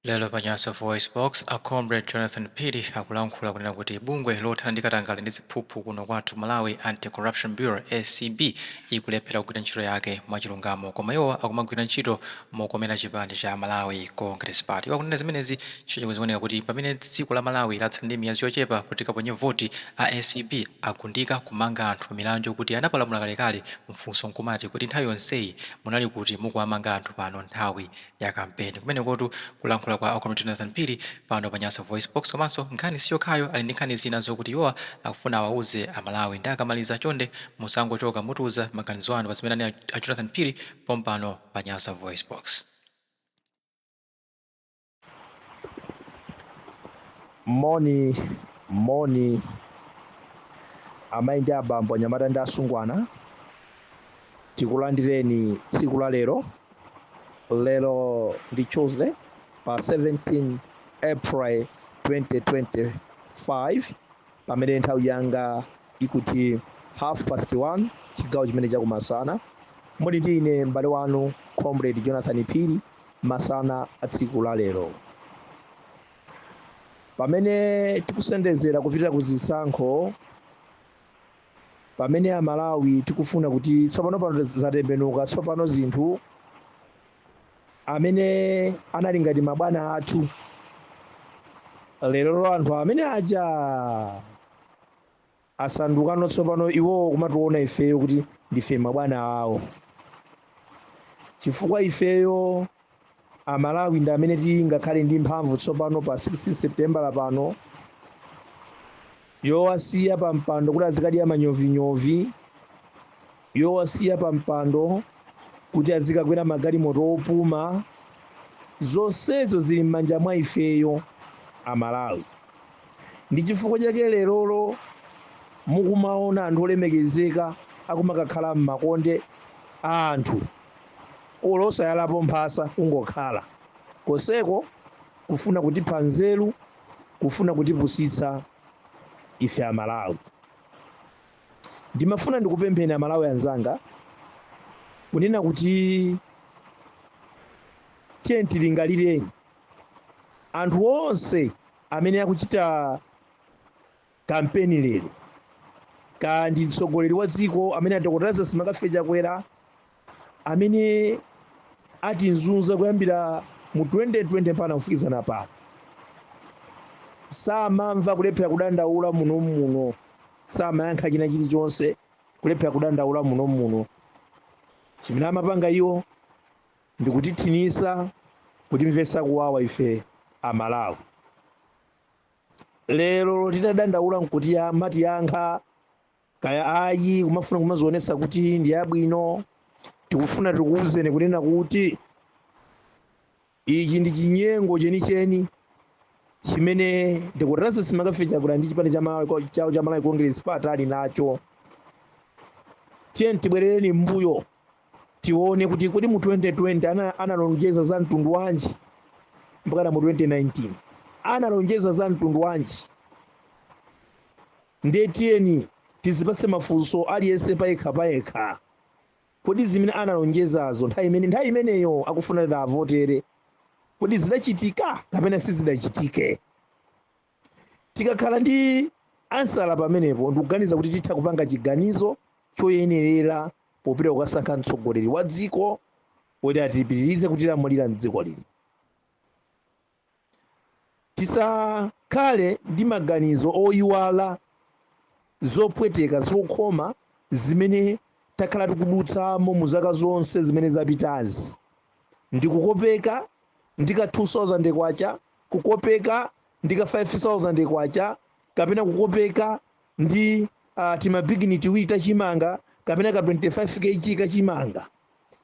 Lero pa Nyasa VoiceBox, a Comrade Jonathan Phiri akulankhula kunena kuti bungwe lothana ndi katangale ndi ziphuphu kuno kwathu Malawi, Anti-Corruption Bureau, acb, ikulephera kugwira ntchito yake mwachilungamo koma iwo akumagwira ntchito mokomera chipani cha Malawi Congress Party. Iwo akunena zimenezi chifukwa chakuti zikuoneka kuti pamene dziko la Malawi latsala ndi miyezi yochepa kuti likaponye voti, a acb agundika kumanga anthu pamilandu yokuti anapalamula kalekale. Mfunso nkumati, kodi nthawi yonseyi munali kuti mukuwamanga anthu pano nthawi ya kampeni. Kumenekotu kulankhula kwa a Comrade Jonathan Phiri pano pa Nyasa Voicebox. Komanso nkhani si yokhayo, ali ndi nkhani zina zokuti iwowa akufuna awauze Amalawi. Nde akamaliza chonde musangochoka, mutiuza maganizo anu pa zimene anena a Jonathan Phiri pompano pa Nyasa Voicebox. Moni, moni, amayi ndi abambo, anyamata ndi asungwana, tikulandireni tsiku la lero lero ndi tuesday pa 17 april 2025 pamene nthawi yanga ikuti half past 1 chigawo chimene chakumasana muli ndi ine m'bale wanu comrade jonathan phiri masana a tsiku la lero pamene tikusendezera kupita ku zisankho pamene amalawi tikufuna kuti tsopano pano zatembenuka tsopano zinthu amene anali ngati mabwana athu lero anthu amene aja asandukano tsopano iwowo kumationa ifeyo kuti ndife mabwana awo chifukwa ifeyo amalawi ndi amene tili ngakhale ndi mphamvu tsopano pa 16 septembala pano yowasiya pa mpando kuti azikadya manyovinyovi yowasiya pa mpando kuti azikakwera magalimoto opuma zonsezo zili m'manja mwa ifeyo amalawi ndi chifukwa chake lerolo mukumaona anthu olemekezeka akumakakhala m'makonde a anthu olo osayalapo mphasa kungokhala koseko kufuna kutipha nzeru kufuna kutipusitsa ife amalawi ndimafuna ndikupempheni amalawi anzanga kunena kuti tiyeni tilingalireni anthu onse amene akuchita kampeni lero kamba ndi mtsogoleri wa dziko amene a Dokotala Lazarus McCarthy Chakwera amene atizunza kuyambira mu 2020 mpaka kufikizana pano samamva kulephera kudandaula muno muno samayankha china chilichonse kulephera kudandaula muno muno chimene amapanga iwo ndikutithinisa kutimvesa kuwawa ife amalawi lero titadandaula nkuti amatiyankha kaya ayi kumafuna kumazionetsa kuti ndi abwino tikufuna tikuwuzeni kunena kuti ichi ndi chinyengo chenicheni chimene a Dokotala Lazarus McCarthy Chakwera ndi chipani cha Malawi- chawo cha malawi congress party ali nacho tiyeni tibwerereni mbuyo tione kuti kodi mu 2020 ana- analonjeza za mtundu wanji mpakana mu 2019 analonjeza za mtundu wanji ndiye tiyeni tizipase mafunso aliyense payekha payekha kodi zimene analonjezazo nthawi imeneyo akufuna kuti tiwavotere kodi zidachitika kapena sizidachitike tikakhala ndi ansala pamenepo ndikuganiza kuti titha kupanga chiganizo choyenerera popita kukasankha mtsogoleri wa dziko kuti atipitirize kutilamulira mdziko lino tisakhale ndi maganizo oyiwala zopweteka zokhoma zimene takhala tikudutsamo mu zaka zonse zimene zapitazi ndikukopeka ndi ka 2000 kwacha kukopeka ndi ka 5000 kwacha kapena kukopeka ndi uh, timabigini tiwiri tachimanga kapena ka 25 kg kachimanga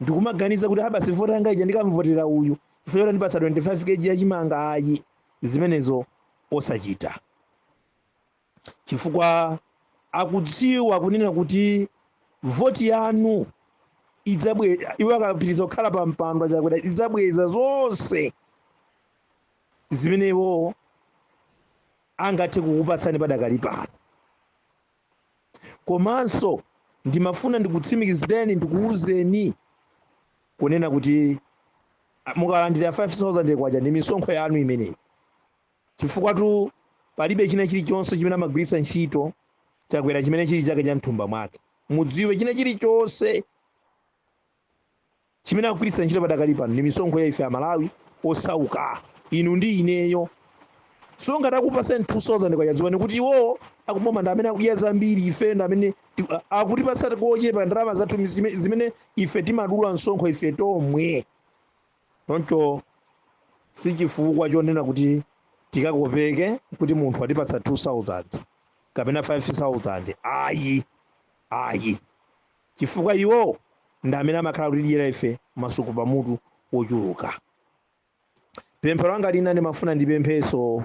ndikumaganiza kuti aa basi voti yanga ija ndikamvotera uyu chifukwa choti wandipatsa 25 kg yachimanga ayi zimenezo osachita chifukwa akudziwa kunena kuti voti yanu idzabwe iwo akapitiriza kukhala pa mpandowo a Chakwera idzabweza zonse zimene iwo angathe kukupatsani padakali pano komanso ndimafuna ndikutsimikizireni ndikuwuzeni kunena kuti mukalandira 5000 kwacha ndi misonkho yanu imeneyi Chifukwatu palibe china chilichonse chimene amagwiritsa ntchito Chakwera chimene chili chake cha mthumba mwake. Mudziwe china chilichonse chimene akugwiritsa ntchito padakali pano ndi misonkho ya ife Amalawi osauka, inu ndi ineyo. So ngati akupasani 2000 kwacha dziwani kuti iwowo akuboma ndi amene akudya zambiri, ife ndi amene ti- a- akutipatsa kochepa ndalama zathu zime- zimene ife timadula msonkho ife tomwe. choncho si chifukwa chonena kuti tikakopeke kuti munthu atipatsa 2000 kapena 5000 ayi ayi chifukwa iwo ndi amene amakhala kutidyera ife masuku pamutu ochuluka pemphero langa lina ndimafuna ndipempheso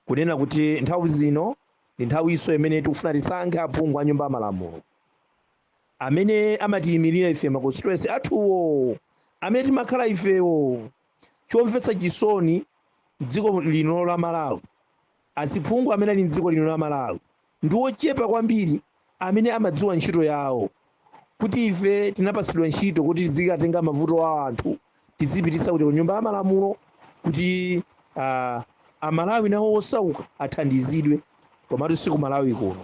kunena kuti nthawi zino ndi nthawiso imene tikufuna tisankhe aphungu a nyumba ya malamulo amene amatiyimirira ife ma constituency athuwo amene timakhala ifewo chomvetsa chisoni dziko lino la malawi aziphungu amene ali mdziko lino la malawi Ndi ochepa kwambiri amene amadziwa ntchito yawo, kuti ife tinapatsidwa ntchito kuti tidzikatenga mavuto a anthu tidzipititsa kuja ku nyumba ya malamulo kuti uh, amalawi nawo osauka athandizidwe komatu si ku malawi kuno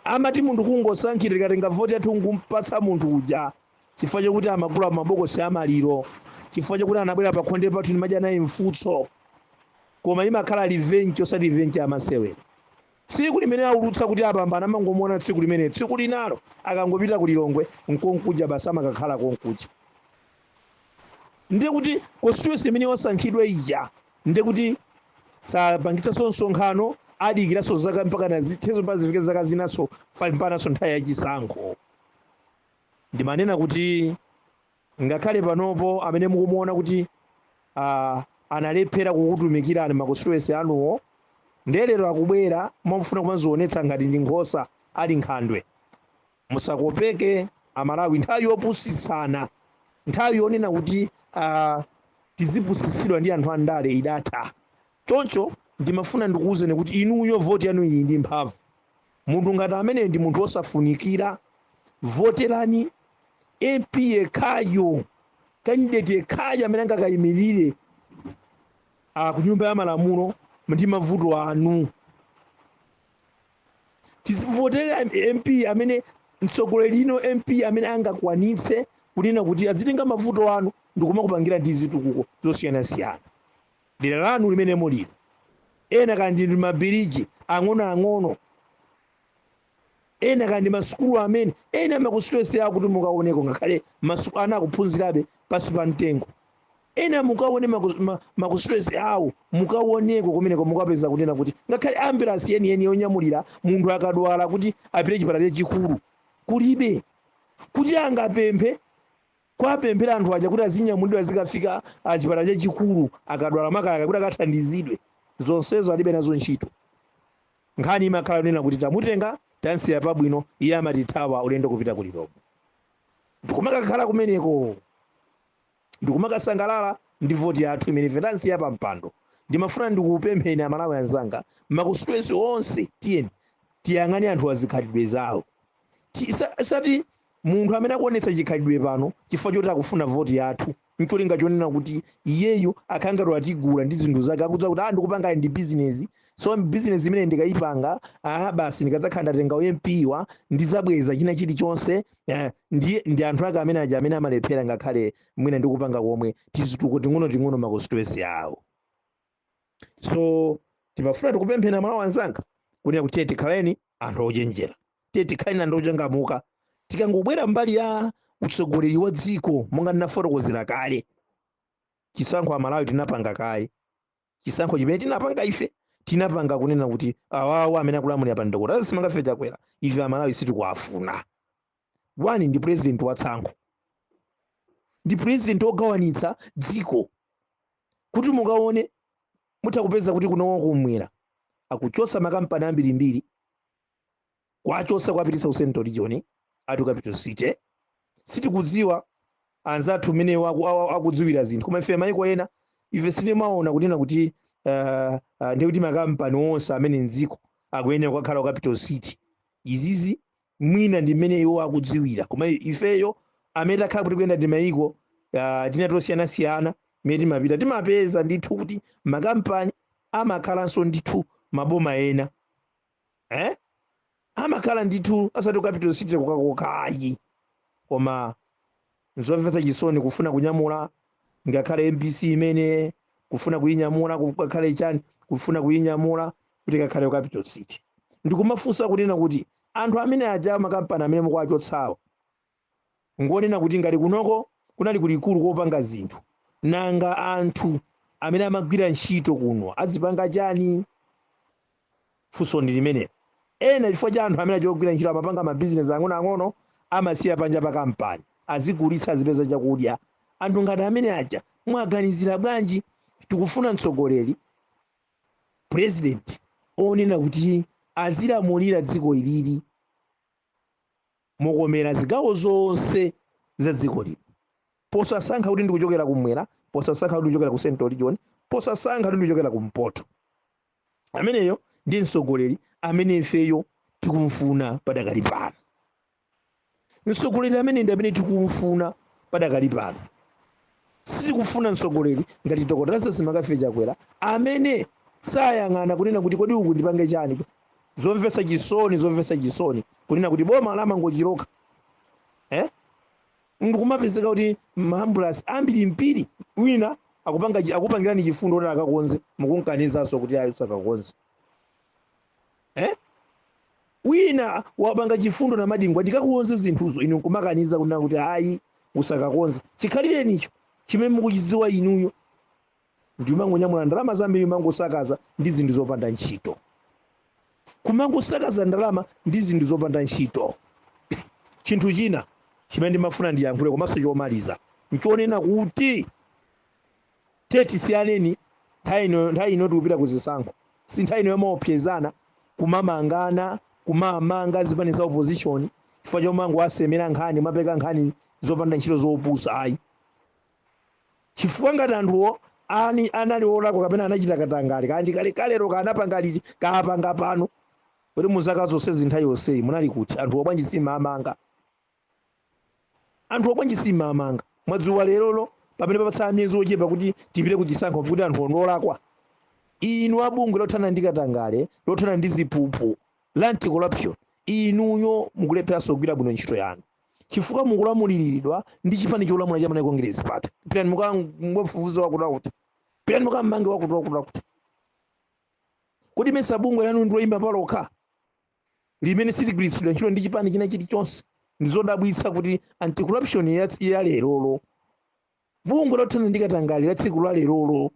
amati munthu kungosankhira tikatenga voti yathu nkumpatsa munthu uja chifukwa chakuti amagula mabokosi a maliro chifukwa chakuti anabwera pa khonde pathu ndimadya naye mfutso koma imakhala revenge osati revenge ya masewera tsiku limene aulutsa kuti apambana amangomuona tsiku limene tsiku linalo akangopita ku lilongwe nkonkuja basi amakakhala konkuja ndiye kuti constituency imene osankhidwa ija ndiye kuti sapangitsanso msonkhano adikiraso zaka mpaka zitheso mpaka zifike zaka zinaso 5 mpanaso nthawi yachisankho Ndimanena kuti ngakhale panopo amene mukumuona kuti ah, analephera kukutumikirani makonstituency anuwo ndiye lero akubwera mwamufuna kumazionetsa ngati ndi nkhosa ali nkhandwe musakopeke amalawi nthawi yopusitsana nthawi yonena kuti ah, tidzipusitsidwa ndi anthu andale idatha choncho ndimafuna ndikuwuzeni kuti inuyo voti yanu ili ndi mphamvu munthu ngati amene ndi munthu osafunikira voterani mp yekhayo kandideti yekhayo amene angakayimirire ah, ku nyumba ya malamulo ndi mavuto anu tizivotere mp amene mtsogolo lino mp amene angakwanitse kunena kuti azitenga mavuto anu ndikumakupangira ndi zitukuko zosiyanasiyana dera lanu limene mulilo ena kaya ndi mabiriji ang'onoang'ono ena kaya ndi masukulu amene ena makusitwesi awo kuti mukaoneko ngakhale masu- ana akuphunzirabe pasi pa mtengo ena mukaone maku- ma- makusitwesi awo mukaoneko kumeneko mukapeza kunena kuti ngakhale ambulansi yeniyeni yonyamulira munthu akadwala kuti apite chipatala chachikulu kulibe kuti angapemphe kuwapempherako anthu aja kuti azinyamulidwa azikafika ah, chipatala chachikulu akadwala makamaka kuti akathandizidwe zonsezo alibe nazo ntchito nkhani imakhala yonena kuti tamutenga tamsiya pabwino iye amatithawa ulendo kupita ku lilongwe ndikumakakhala kumeneko ndikumakasangalala ndi voti yathu imene ife tamsiya pa mpando ndimafuna ndikupempheni amalawi anzanga ma constituency onse tiyeni tiyang'ane anthu azikhalidwe zawo Ti- sa- sati munthu amene akuonetsa chikhalidwe pano chifukwa choti akufuna voti yathu ncholinga chonena kuti iyeyo akhale ngati watigula ndi zinthu zake akudza kuti ah ndikupanga ndi bizinesi so bizinesi imene ndikayipanga ah basi ndikadzakhala ndatenga u MP-wo ndidzabweza china chilichonse eh, ndiye ndi anthu ake amene aja amene amalephera ngakhale mwina ndikupanga komwe tizituko ting'ono ting'ono m'ma constituency awo so timafuna tikupempheni amalawi anzanga kunena kuti tiye tikhaleni anthu ochenjera tiye tikhaleni anthu ochangamuka tikangobwera mbali ya utsogoleri wa dziko monga ndinafotokozera kale chisankho amalawi tinapanga kale chisankho chimene tinapanga ife tinapanga kunena kuti awawa amene akulamulira pano dokotala lazarus mccarthy chakwera ife amalawi sitikuwafuna one ndi president wa tsankho ndi president wogawanitsa dziko kuti mukaone mutha kupeza kuti kuno kumwera akuchotsa makampani ambirimbiri kuwachotsa kuwapititsa ku central region ati ku capital city sitikudziwa anzathu mmene waku- awa- akudziwira zinthu koma ife maiko ena ife sitimaona kunena kuti uh, uh, ndikuti makampani onse a mmene mdziko akuyenera kukakhala ku capital city izizi mwina ndi mmene iwo akudziwira koma ifeyo amene takhala kuti kuyenda ndi mayiko uh, tina tosiyanasiyana mmene timapita timapeza ndithu kuti makampani amakhalanso ndithu maboma ena eh? amakhala ndithu asati ku capital city kokhakokha ayi koma Nzomvetsa chisoni kufuna kunyamula ngakhale mbc imene kufuna kuyinyamula ikakhale chani kufuna kuyinyamula kuti ikakhale ku capital city ndikumafunsa kunena kuti anthu amene aja makampani amene mukuwachotsawo ngonena kuti ngati kunoko kunali kulikulu kopanga zinthu nanga anthu amene amagwira ntchito kuno azipanga chani Funso ndi limenelo. Ena chifukwa cha anthu amene aja ogwira ntchito amapanga ma business ang'onoang'ono amasiya panja pa kampani azigulitsa azipeza chakudya. Anthu ngati amene aja mwaganizira bwanji? Tikufuna mtsogoleri, president onena kuti azilamulira dziko ili lino mokomera zigawo zonse za dziko lino. Posasankha kuti ndikuchokera kumwera, posasankha kuti ndikuchokera ku central region, posasankha kuti ndikuchokera kumpoto. ameneyo ndi mtsogoleri amene ifeyo tikumfuna padakali pano mtsogoleri amene ndi amene tikumfuna padakali pano sitikufuna mtsogoleri ngati dr lazarus mccarthy chakwera amene sayang'ana kunena kuti kodi uku ndipange chani zomvetsa chisoni zomvetsa chisoni kunena kuti boma lamangochiloka eh? Ndikumapezeka kuti ma ambulance ambirimbiri wina akupanga chi- akupangirani chifundo kuti akakonze mukunkanizanso kuti ayi usakakonze eh? wina wapanga chifundo Namadingo ndikakonze zinthuzo inu nkumakaniza kunena kuti ayi usakakonze chikhalirenicho chimene mukuchidziwa inuyo ndi kumangonyamula ndalama zambiri kumangosakaza ndi zinthu zopanda ntchito kumangosakaza ndalama ndi zinthu zopanda ntchito chinthu china chimene ndimafuna ndiyankhule komanso chomaliza nchonena kuti tiye tisiyaneni nthawi ino nthawi ino tikupita ku zisankho si nthawi ino yomaopsezana kumamangana kumamanga zipani za opposition chifukwa chomangowasemera nkhani kumapeka nkhani zopanda ntchito zopusa ayi chifukwa ngati anthuwo ani anali olakwa kapena anachita katangale kaya ndi kalekalelo kaya anapanga liti kaya apanga pano kodi muzaka zonsezi nthawi yonseyi munali kuti anthuwo bwanji simumaamanga anthuwo bwanji simumaamanga mwadziwa lerolo pamene papatsala miyezi ochepa kuti tipite kuchisankho kuti anthuwo ndi olakwa inu a bungwe lothana ndi katangale lothana ndi ziphuphu la anti corruption inuyo mukulepheranso kugwira bwino ntchito yanu chifukwa mukulamuliriridwa ndi chipani cholamula cha Malawi Congress Party. Pitani mukamfufuze wakuti wakuti, pitani mukammange wakuti wakuti wakuti. Kodi mesa bungwe lanu ndi loyima palokha limene siligwiritsidwa ntchito ndi chipani china chilichonse? Ndi zodabwitsa kuti anti corruption ya, ya lerolo bungwe lothana ndi katangale la tsiku la lerolo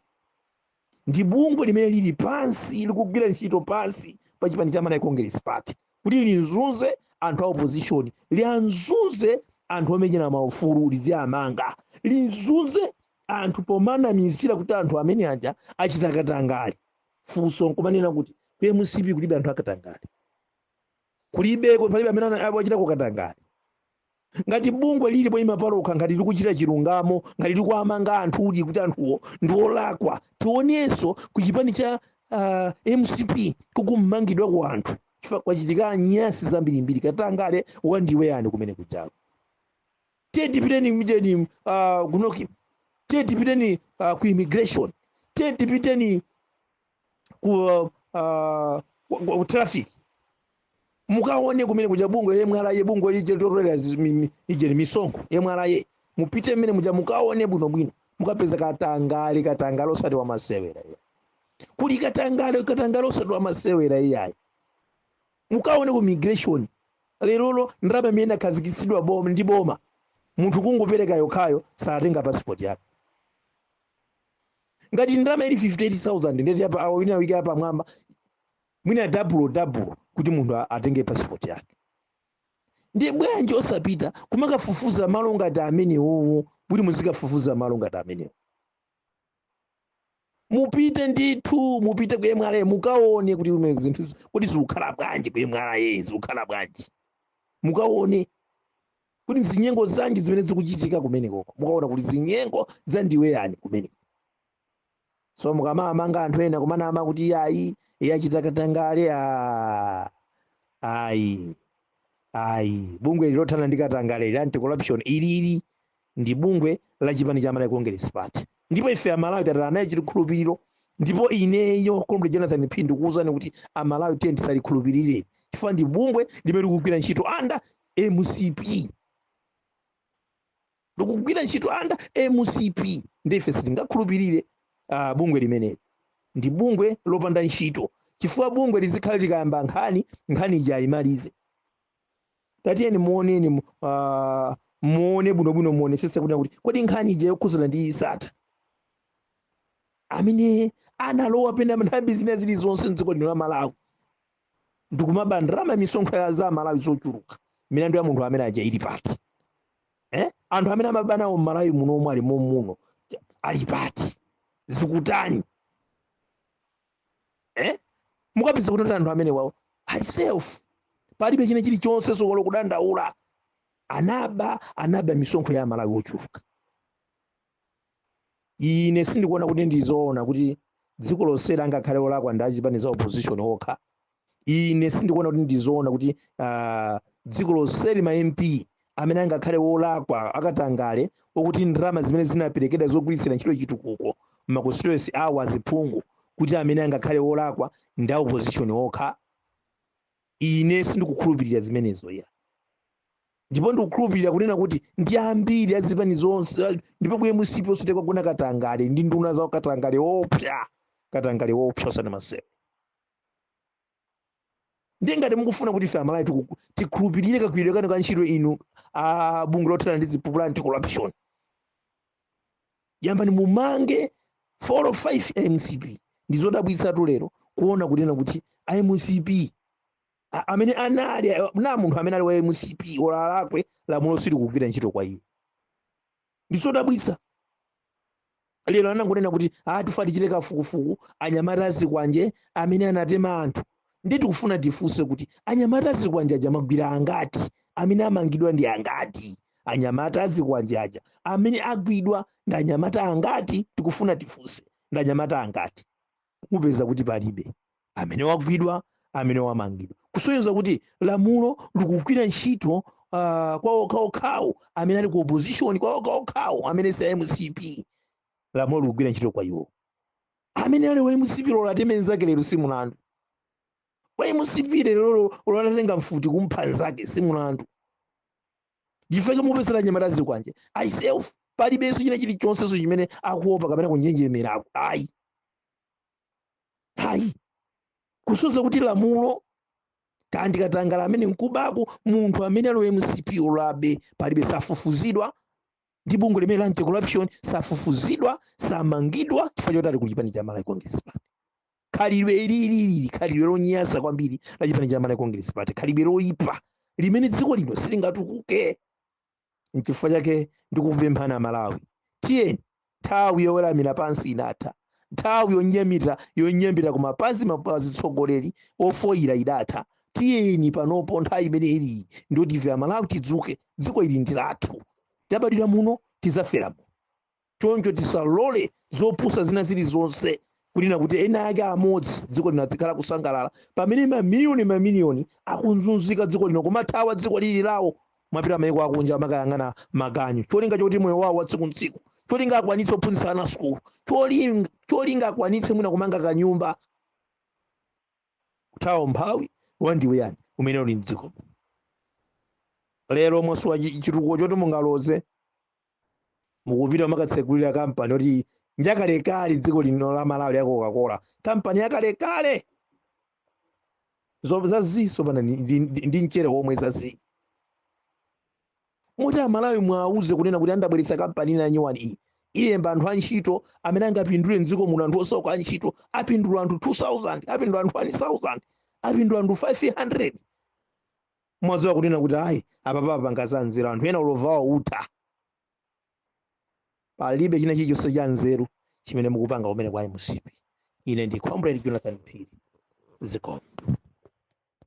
ndi bungwe limene lili pansi likugwira ntchito pansi pa chipani cha malawi congress party kuti linzunze anthu a opposition lianzunze anthu omenyera maufulu lidziamanga linzunze anthu pomaanamizira kuti anthu amene aja achita katangale funso nkumanena kuti ku mcp kulibe anthu akatangale kulibeko palibe amene ana- achitako katangale ngati bungwe lili poyima palokha ngati likuchita chilungamo ngati likuwamanga anthu uli kuti anthuwo ndi olakwa tionenso ku chipani cha uh, mcp kukumangidwako anthu chifukwa kwachitika nyasi zambirimbiri katangale wandiweyani kumene kujalo tiye tipiteni mjeni uh, kunoki tiye tipiteni uh, ku immigration tiye tipiteni ku uh, uh, ku- ku traffic mukaone kumene kuja bungwe mra bungwe lija lotolera ujeni misonkho mra mupite mmene muja mukaone bwino bwino mukapeza katangale katangale osati wa masewera iyayi kuli katangale katangale osati wa masewera iyayi mukaone ku immigration lerolo ndalama imene inakhazikitsidwa boma ndi boma munthu kungopereka yokhayo satenga passport yake ngati ndalama ili 58000 ndeti apa awo wina uike yapamwamba mwina dabulo dabulo kuti munthu a- atenge passport yake ndiye bwanji osapita kumakafufuza malo ngati amenewowo kuti muzikafufuza malo ngati amenewo mupite ndithu mupite ku mra mukaone kuti ume zinthu kuti zikukhala bwanji ku mra zikukhala bwanji mukaone kuti zinyengo zanji zimene zikuchitika kumenekoko mukaona kuti zinyengo za ndiwe yani kumeneko so mukamamanga anthu ena kumanama kuti iyayi achita katangale ah, ayi ayi bungwe ili lothana ndi katangale ili anti corruption ilili ndi bungwe la chipani cha malawi congress party ndipo ife amalawi tataya naye chikhulupiriro ndipo ineyo comrade jonathan phiri ndikuwuzani kuti amalawi tiye tisalikhulupirire chifukwa ndi bungwe limene likugwira ntchito under mcp likugwira ntchito under mcp ndiye ife sitingakhulupirire uh, bungwe limeneli ndi bungwe lopanda ntchito chifukwa bungwe lizikhala likayamba nkhani nkhani ija ayimalize tatiyeni muoneni mu- ah, muone bwinobwino muonesese kuti kuti kodi nkhani ija yokhuzana ndi sattar amene analowa pena nthambi zina zilizonse mdziko lino la malawi ndikumaba ndalama ya misonkho ya za malawi zochuluka milandu ya munthu amene uja ili pati eh? anthu amene amaba nawo mmalawi muno omwe ali mommuno ali pati zikutani eh? mukapeza kuti anthu amenewawo ali safe palibe china chilichonse sokolo kudandaula anaba anaba misonkho ya amalawi ochuluka ine sindikuona kuti ndi zoona kuti dziko lonseli angakhale olakwa ndi achipani za opposition okha ine sindikuona kuti ndi zoona kuti ah, dziko lonseli ma mp amene angakhale wolakwa akatangale okuti ndalama zimene zinaperekedwa zogwiritsira ntchito chitukuko mma constituency awo aziphungu kuti amene angakhale wolakwa ndi a opposition okha ine sindikukhulupirira zimenezo ya ndipo ndikukhulupirira kunena kuti ndi ambiri a zipani zonse a- ndipo ku mcp osati kwagona katangale ndi nduna zawo katangale oopsa katangale oopsa osati masewu ndiye ngati mukufuna kuti ife amalawi tiku- tikhulupirire kagwiridwe kanu ka ntchito inu a bungwe lothana ndi ziphuphu la anti corruption yambani mumange 4 or 5 a mcp ndizodabwitsatu lero kuona kunena kuti a mcp A- amene anali na munthu amene ali wa mcp olo alakwe lamulo silikugwira ntchito kwa iye ndizodabwitsa lero anangonena kuti ah tifa tichite kafukufuku anyamata azikwanje amene anatema anthu ndi tikufuna tifunse kuti anyamata azikwanje aja mwagwira angati amene amangidwa ndi angati anyamata azikwanje aja amene agwidwa ndi anyamata angati tikufuna tifunse ndi anyamata angati mupeza kuti palibe amene wagwidwa amene wamangidwa kusonyeza kuti lamulo likugwira ntchito uh, kwa okhaokhawo amene ali ku opposition kwa okhaokhawo amene si a mcp lamulo likugwira ntchito kwa iwo amene ali wa mcp olo ateme nzake lero si mulandu wa mcp lero olo atatenga mfuti kumpha nzake si mulandu nchifukwa chake mupeza anyamata azikwanje ali safe palibenso china chilichonsenso chimene akuopa kapena kunjenjemera aku- ayi ayi kusoza kuti lamulo ndi katangale amene mkubako munthu amene ali mcp olo abe palibe safufuzidwa ndi bungwe limeneli la anti corruption safufuzidwa samangidwa chifukwa choti ali ku chipani cha malawi congress party khalidwe ili ili ili khalidwe lonyansa kwambiri la chipani cha malawi congress party khalidwe loyipa limene dziko lino silingatukuke nchifukwa chake ndikupemphani amalawi tiyeni nthawi yoweramira pansi idatha nthawi yonyamira yonyambita kumapazi kwa atsogoleri ofoira idatha tiyeni panopo nthawi imene ilipo ndiyoti ife amalawi tidzuke dziko ili ndi lathu tabadwira muno tidzafera muno Choncho tisalole zopusa zina zilizonse kunena kuti ena ake amodzi dziko lino adzikhala kusangalala pamene mamiliyoni mamiliyoni akuzunzika mdziko lino kumathawa dziko lili lawo kumapita maiko akunja kumakayang'ana maganyu cholinga choti moyo wawo watsiku ntsiku cholinga akwanitse kuphunzitsa ana sukulu cholinga, cholinga akwanitse mwina kumanga kanyumba kuthawa umphawi wadzaoneni umene uli mdziko lero mwasowa chitukuko choti mungaloze mukupita kumakatsegulira kampani oti njakalekale mdziko lino la malawi ya coca-cola kampani yakalekale Zo- zaziso pana ndi- ndi ndi- ndi mchere womwe zazi moti amalawi muwauze kunena kuti ah ndabweretsa kampani ina nyuwani iyi ilemba anthu antchito amene angapindule mdziko muno anthu osauka antchito apindula anthu 2000 apindula anthu 1000 apindula anthu 500 mwadziwa kunena kuti ayi apapa apanga za nzeru anthu ena ulova wawo utha palibe china chilichonse cha nzeru chimene mukupanga kumene kwa mcp ine ndi comrade jonathan phiri zikomo